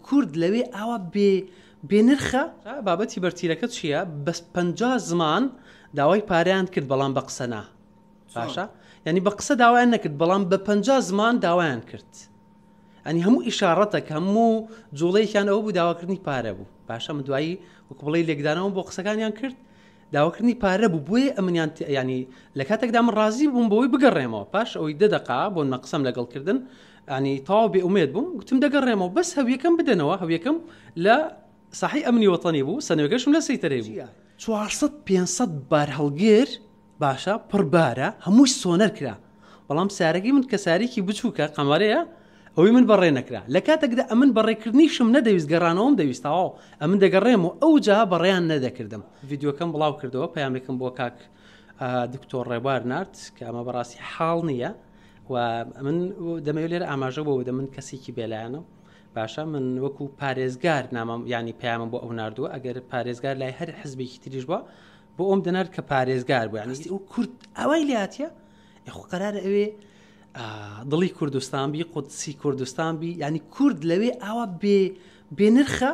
کورد لەوێ ئاوا بێ بێ نرخە؟ بابەتی بەرتیلەکە چیە بەس پەنجا زمان داوای پارەیان کرد بەڵام بە قسە نا باشە یعنی بە قسە داوایان نەکرد بەڵام بە پەنجا زمان داوایان کرد ئەنی هەموو ئیشارەتە کە هەموو جوڵەیەکیان ئەوە بوو داواکردنی پارە بوو باشە من دوایی وەک بڵێ لێکدانەوە بۆ قسەکانیان کرد داواکردنی پارە بوو بۆیە ئەمنیان ت یانی لە کاتێکدا من ڕازی بووم بۆی بگەڕێمەوە پاش ئەوەی دە دەقا بۆ نە قسەم لەگەڵ کردن ینی تەواو بێ ئومێد بووم گوتم دەگەڕێمەوە بەس هەویەکەم بدەنەوە هەویەکەم لە ساحی ئەمنی وەتەنی بوو سنوێگەشم لە سەیتەرەی بوو 400 500 بارهەڵگر باشە پڕبارە هەمووی سۆنەر کرا بەڵام سارەگی من کە سارێکی بچووکە، قەمەرەیە، ئەوەی من بەڕێ نەکرا. لە کاتێکدا ئەمن بەڕێکردنیشم نەدەویست، گەڕانەوەم دەویست، تەواو، ئەمن دەگەڕێم و ئەوجا بەڕێیان نەدەکردم. ڤیدیۆکەم بڵاو کردەوە، پەیامێکم بۆ کاک دکتۆر ڕێبوار نارد کە ئەمە بەڕاستی حاڵ نییە و من دەمەوێت لێرە ئاماژە بۆ بدەم، من کەسێکی بێلایەنەم. باشە من وەکو پارێزگار نامەم یانی پەیامم بۆ ئەو ناردووە، ئەگەر پارێزگار لای هەر حزبێکی تریش بووە، بۆ ئەوم دەنارد کە پارێزگار بوو یانستی ئەو کورد ئەوەی لاتە ئەخۆ قەرارە ئەوێ دڵی کوردستان بی قودسی کوردستان بی ینی کورد لەوێ ئاوا بێ بێنرخە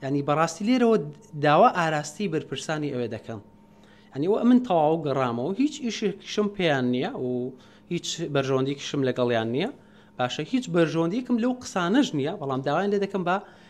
ینی بەڕاستی لێرەوە داوا ئاراستی بەرپرسانی ئەوێ دەکەم ئەنیوە من تەواو گەڕامەوە هیچ ئیشێکشم پێیان نییە و هیچ بەرژەوەندیکیشم لەگەڵیان نییە باشە هیچ بەرژەوەندیکم لەو قسانەش نییە بەڵام داوایان لێ دەکەم بە